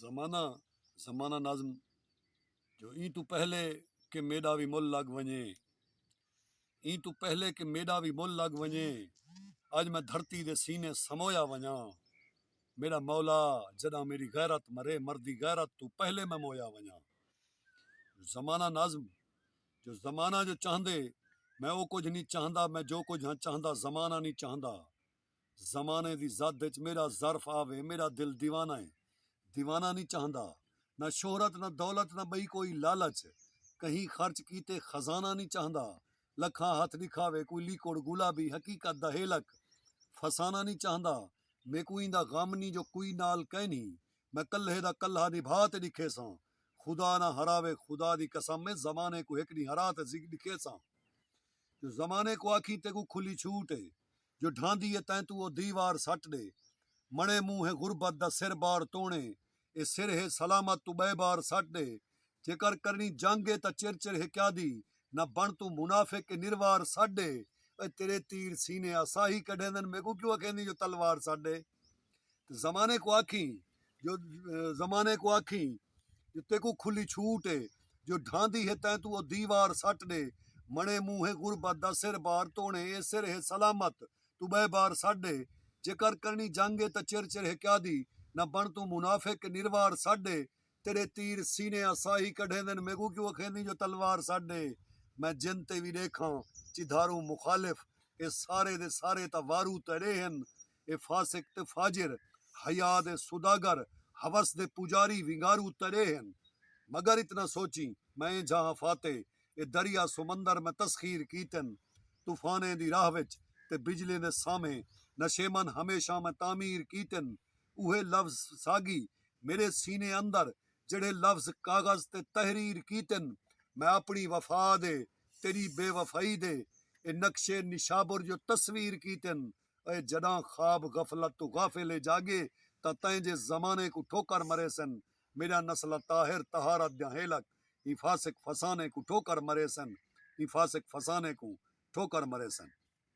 زمانہ زمانہ نظم جو ایں توں پہلے کہ میݙا وی مل لڳ ونڄے ایں توں پہلے کہ میݙا وی مل لڳ ونڄے اڄ میں دھرتی دے سینے سمویا ونڄاں میݙا مولا جݙاں میݙی غیرت مرے مردی غیرت توں پہلے میں مویا ونڄاں زمانہ نظم جو زمانہ جو چاہندے میں او کجھ نی چاہندا میں جو کجھ ہاں چاہندا زمانہ نی چاہندا زمانے دی زد اچ میݙا ظرف آوے میݙا دل دیوانہ ہے دیوانہ نی چاہندا نہ شہرت نہ دولت نہ ٻئی کوئی لالچ کہیں خرچ کیتے خزانہ نی چاہندا لکھاں ہتھ ݙکھاوے کوئی لیکوڑ گلابی حقیقت دا ہیلک فسانہ نی چاہندا میکوں ایندا غم نی جو کوئی نال کینھی میں کلھے دا کلھا نبھا تے ݙکھیساں خدا نہ ہراوے خدا دی قسم اے زمانے کوں ہک ݙینہہ ہرا تے ݙکھیساں جو زمانے کوں آکھیں تیکوں کھلی چھوٹ اے۔ جو ڈھاندی اے تیں توں او دیوار سٹ ڈے مݨے موں ہے غربت دا سر بار توݨے اے سر ہے سلامت توں بئے بار سٹ ڈے جیکر کرݨی جنگ اے تاں چر چر ہے کیادی نہ بݨ توں منافق اے نروار سٹ ڈے۔ اوئے تیرے تیر سینے آساہی کڈھیندن میکوں کیوں اکھیندیں جو تلوار سٹ ڈے۔ تے زمانے کوں آکھیں جو زمانے کوں آکھیں جو تیکوں کھلی چھوٹ اے جو ڈھاندی ہے تیں توں او دیوار سٹ ڈے مݨے مونہہ ہے غربت دا سر بار توݨے اے سر ہے سلامت توں ٻئے بار سٹ ڈے جے کر کرݨی جنگ اے تاں چر چر ہے کیادی نہ بݨ توں منافق نروار سٹ ڈے تیݙے تیر سینے آ ساہی کڈھیندن میکوں کیوں اکھیندیں جو تلوار سٹ ڈے میں جن تے وی ݙیکھاں چدھاروں مخالف اے سارے دے سارے تاں وارو تیݙے ہن اے فاسق تے فاجر، حیا دے سوداگر، ہوس دے پوجاری، ونگارو تیݙے ہن۔ مگر اتنا سوچیں، میں جہاں فاتح، اے دریا سمندر میں تسخیر کیتن، طوفانیں دی راہ وچ تے بجلیں دے سامھے نشیمن ہمیشاں میں تعمیر کیتن۔ اوہے لفظ ساڳی میݙے سینے اندر جیڑھے لفظ کاغذ تے تحریر کیتن۔ میں اپݨی وفا دے، تیݙی بے وفائی دے، اے نقشے نشابر جو تصویر کیتن۔ اے جݙاں خواب غفلت توں غافل اے جاڳے تاں تئیں جے زمانے کوں ٹھوکر مریسن میݙا نسل طاہر طہارت دیاں ہیلک ایں فاسق فسانے کوں ٹھوکر مریسن ایں فاسق فسانے کوں ٹھوکر مریسن۔